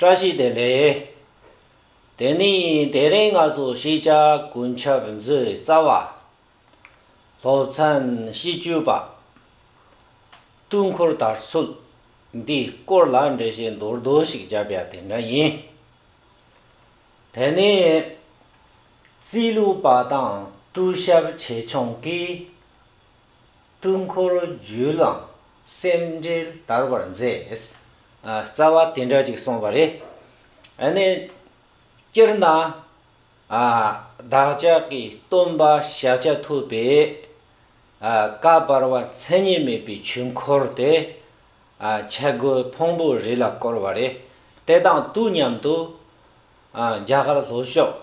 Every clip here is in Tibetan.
བཀྲ་ཤིས་བདེ་ལེགས། དེ་ནས་དེ་རིང་ང་ཚོ་ཤེས་བྱ་ཀུན་ཁྱབ་མཛོད་རྩ་བ། སློབ་ཚན་བཞི་བཅུ་པ། དུས་འཁོར་དར་ཚུལ་འདིའི་སྐོར་ལ་འགྲེལ་བཤད་མདོར་བསྡུ་ཞིག་བརྒྱབ་ཡ་དེ་འདྲ་ཡིན། དེ་ནས་རྩིས་ལུགས་པ་དང་གཏུག་ཞབས་ཆེ་ཆུང་གིས་སྤྲུལ་འཁོར་རྒྱུད་ལ་སེམས་འགྲེལ་དར་བར་མཛད། རྩ་བ་དེ་འདྲ་ཅིག་གསུངས་པ་རེད། ནས། སྤྱིར་ན། བདག་ཅག་གི་སྟོན་པ་ཤཱཀྱ་ཐུབ་པས། བཀའ་བར་བ་མཚན་ཉིད་མེད་པའི་ཆོས་འཁོར་དེ། ཆས་གོས་ཕུང་པོ་རི་ལ་བསྐོར་བ་རེད། དེ་དང་དུས་མཉམ་དུ། རྒྱ་གར་ལྷོ་ཕྱོགས་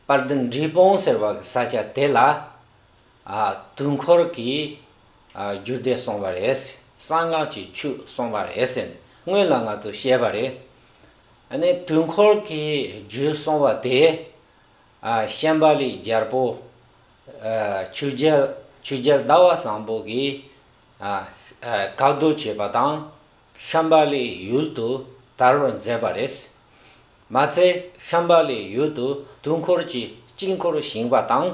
དཔལ་ལྡན་འབྲས་སྤུངས་ཟེར་བ་གི་ས་ཆ་དེ་ལ། དུས་འཁོར་གྱི་རྒྱུ་འདི་གསུངས་པ་རེད། གསང་སྔགས་ཀྱི་ཆོས་གསུངས་པ་རེད་ཟེར་ནས་སྔོན་ལ་ང་ཚོས་བཤད་པ་རེད། ནས་དུས་འཁོར་གྱི་རྒྱུ་གསུངས་པ་དེ། ཤན་པ་ལའི་རྒྱལ་པོ། ཆོས་རྒྱལ་ཆོས་རྒྱལ་ཟླ་བ་བཟང་པོ་གིས། བཀའ་སྡོད་བྱས་པ་དང། ཤན་པ་ལའི་ཡུལ་དུ་དར་བར་མཛད་པ་རེད། མ་ཚད་ཤན་པ་ལའི་ཡུལ་དུ་དུས་འཁོར་གྱི་དཀྱིལ་འཁོར་བཞེངས་པ་དང།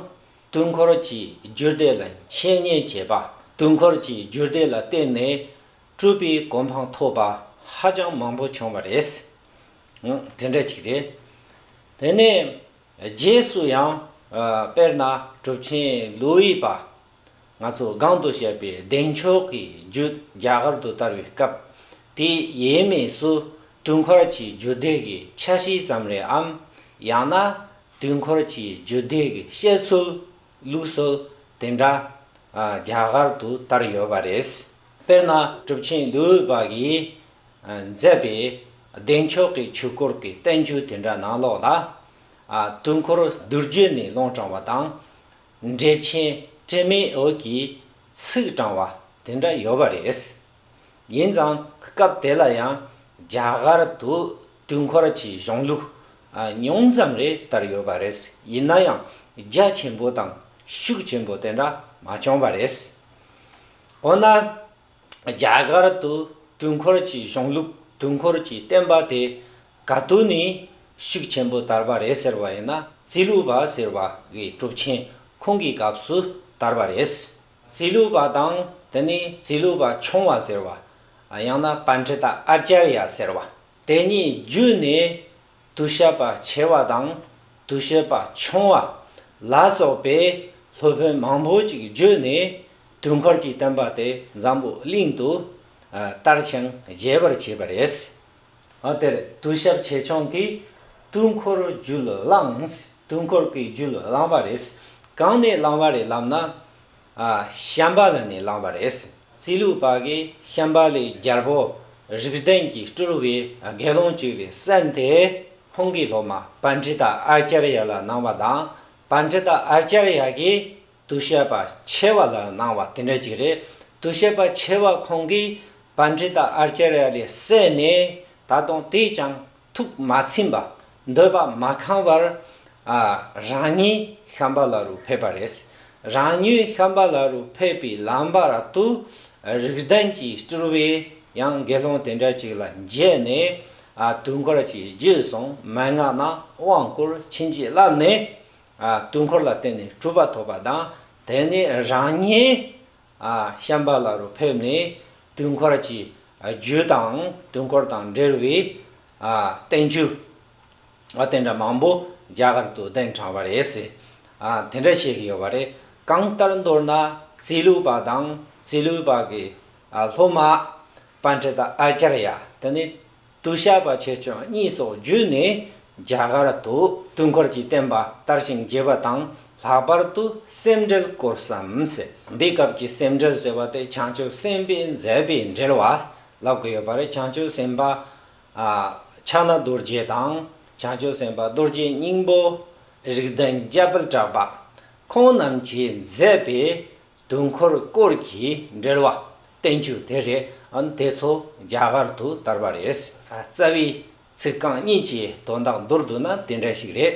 དུས་འཁོར་གྱི་རྒྱུད་སྡེ་ལ་འཆད་ཉན་བྱེད་པ། དུས་འཁོར་གྱི་རྒྱུད་སྡེ་ལ་བརྟེན་ནས་སྤྲུལ་པའི་གོ་འཕང་ཐོབ་པ་ཧ་ཅང་མང་པོ་བྱུང་བ་རེད། དེ་འདྲ་ཅིག་རེད། དེ་ནས་རྗེས་སུ་ཡང། དཔེར་ན་གྲུབ་ཆེན་ལུའི་པ། ང་ཚོ་སྒང་དུ་བཤད་པའི་བདེ་མཆོག་གི་རྒྱུད་རྒྱ་གར་དུ་དར་བའི་སྐབས་དེ་ཡས་མས་སུ་དུས་འཁོར་གྱི་རྒྱུད་སྡེ་གི་ཆ་ཤས་ཙམ་རེའམ་ཡང་ན་དུས་འཁོར་གྱི་རྒྱུད་སྡེ་གི་བཤད་ཚུལ་ལུགས་སྲོལ་དེ་འདྲ་རྒྱ་གར་དུ་དར་ཡོད་པ་རེད། དཔེར་ན་གྲུབ་ཆེན་ལུའུ་བ་གིས་མཛད་པའི་བདེ་མཆོག་གི་ཆོས་སྐོར་གྱི་བསྟན་བཅོས་དེ་འདྲ་ནང་ལོགས་ལ། དུས་འཁོར་བསྡུར་རྒྱུད་ནས་ལུང་དྲངས་བ་དང། འགྲེལ་ཆེན་བཀྲིས་མའི་འོད་ཀྱིས་ཚིག་དྲངས་བ་དེ་འདྲ་ཡོད་པ་རེད། ཡིན་ཙང་སྐབས་དེ་ལ་ཡང་རྒྱ་གར་དུ་དུས་འཁོར་གྱི་གཞུང་ལུགས་ཉུང་ཙམ་རེ་དར་ཡོད་པ་རེད། ཡིན་ན་ཡང་རྒྱ་ཆེན་པོ་དང་ཤུགས་ཆེན་པོ་དེ་འདྲ་མ་བྱུང་བ་རེད། འོ་ན། རྒྱ་གར་དུ་དུས་འཁོར་གྱི་གཞུང་ལུགས་དུས་འཁོར་གྱི་བསྟན་པ་དེ་ག་དུས་ནས་ཤུགས་ཆེན་པོ་དར་བ་རེད་ཟེར་བ་ཡིན་ན་རྩིས་ལུགས་པ་ཟེར་བ་འི་གྲུབ་ཆེན་ཁོང་གི་སྐབས་སུ་དར་བ་རེད། རྩིས་ལུགས་པ་དང་དེ་ནས་རྩིས་ལུགས་པ་ཆུང་བ་ཟེར་བ། ཡང་ན Panchita Acharya ཟེར་བ། དེ་གཉིས་བརྒྱུད་ནས་དུ་ཤད་པ་ཆེ་བ་དང་དུ་ཤོད་པ་ཆུང་བ་ལ་སོགས་པའི་སློབ་དཔོན་མང་པོ་ཅིག་བརྒྱུད་ནས་དུས་འཁོར་གྱི་བསྟན་པ་དེ་འཛམ་བུ་གླིང་དུ་དར་ཞིང་རྒྱས་པར་བྱས་པ་རེད། དེར་དུས་ཞབས་ཆེ་ཆུང་གིས་དུས་འཁོར་རྒྱུད་བླངས། དུས་འཁོར་གྱི་རྒྱུད་བླངས་པ་རེད། གང་ནས་བླངས་པ་རེད་ལབ་ན། ཤམྦྷ་ལ་ནས་བླངས་པ་རེད། རྩིས་ལུགས་པ་གིས་ཤམྦྷ་ལའི་རྒྱལ་པོ་རིགས་ལྡན་གྱི་སྤྲུལ་བའི་དགེ་སློང་གཅིག་རེད་བསམ་སྟེ་ཁོང་གི་སློབ་མ་པཱནྟྲི་ཏཱ་ཨཱརྱ་རཡ་ལ་གནང་བ་དང་པཱནྟྲི་ཏཱ་ཨཱརྱ་རཡ་གིས་དུ་ཤེས་པ་ཆེ་བ་ལ་སྣང་བ་དེ་འདྲ་ཅིག་རེད་དུ་ཤེས་པ་ཆེ་བ་ཁོང་གིས་བན་ཁྲི་དང་ཨར་ཅེ་ར་ལས་བསད་ནས་ད་དུང་དེས་ཀྱང་ཐུགས་མ་ཚིམས་པ་འདོད་པ་མ་ཁང་བར་རང་ཉིད་ཤམ་བྷ་ལ་རུ་ཕེབས་པ་རེད། རང་ཉིད་ཤམ་བྷ་ལ་རུ་ཕེབས་པའི་ལམ་བར་དུ་རིགས་ལྡན་གྱི་སྤྲུལ་བས་ཡང་དགེ་སློང་དེ་འདྲ་ཅིག་ལ་མཇལ་ནས་དུས་འཁོར་གྱི་རྒྱུད་སོང་མན་ངག་རྣམས་དབང་བསྐུར་ཕྱིན་ཅི་ལབ་ནས། དུས་འཁོར་ལ་བརྟེན་ནས་གྲུབ་པ་ཐོབ་པ་དང་དེ་ནས་རང་ཉིད་ཤམ་པ་ལ་རུ་ཕེབས་ནས་དུས་འཁོར་གྱི་རྒྱུད་དང་དུས་འཁོར་དང་འབྲེལ་བའི་བསྟན་བཅོས་དེ་འདྲ་མང་པོ་རྒྱ་གར་དུ་གདན་དྲངས་པ་རེད། དེ་འདྲ་བྱེད་ཀྱི་ཡོད་པ་རེད། གང་ལྟར་མདོར་ན་རྩིས་ལུགས་པ་དང་རྩིས་ལུགས་པ་གི་སློབ་མ་པཎྜི་ཏཱ་ཨཱཅཱརྱ་དེ་ནི། དུ་བཤད་པ་ཆེ་ཆུང་གཉིས་སོགས་བརྒྱུད་ནས་རྒྱ་གར་དུ་དུས་འཁོར་གྱི་བསྟན་པ་དར་ཞིང་རྒྱས་པ་དང་ལྷག་པར་དུ་སེམས་འགྲེལ་སྐོར་བསམ་ཚེ་འདི་སྐབས་ཀྱི་སེམས་འགྲེལ་ཟེར་བ་དེ་བྱང་ཆུབ་སེམས་དཔས་མཛད་པའི་འགྲེལ་བ་ལབ་དགོས་ཡོད་པ་རེད་བྱང་ཆུབ་སེམས་དཔའ་ཕྱག་ན་རྡོ་རྗེ་དང་བྱང་ཆུབ་སེམས་དཔའ་རྡོ་རྗེ་སྙིང་པོ། རིགས་ལྡན་རྒྱལ་དཔལ་གྲགས་པ། ཁོང་རྣམས་ཀྱིས་མཛད་པའི། དུས་འཁོར་སྐོར་གྱི་འགྲེལ་བ་བསྟན་བཅོས་དེ་རེད་ཨང་དེ་ཚོ་རྒྱ་གར་དུ་དར་བ་རེད། རྩ་བའི་ཚིག་རྐང་གཉིས་ཀྱི་དོན་དག་མདོར་བསྡུ་ན་དེ་འདྲ་ཞིག་རེད།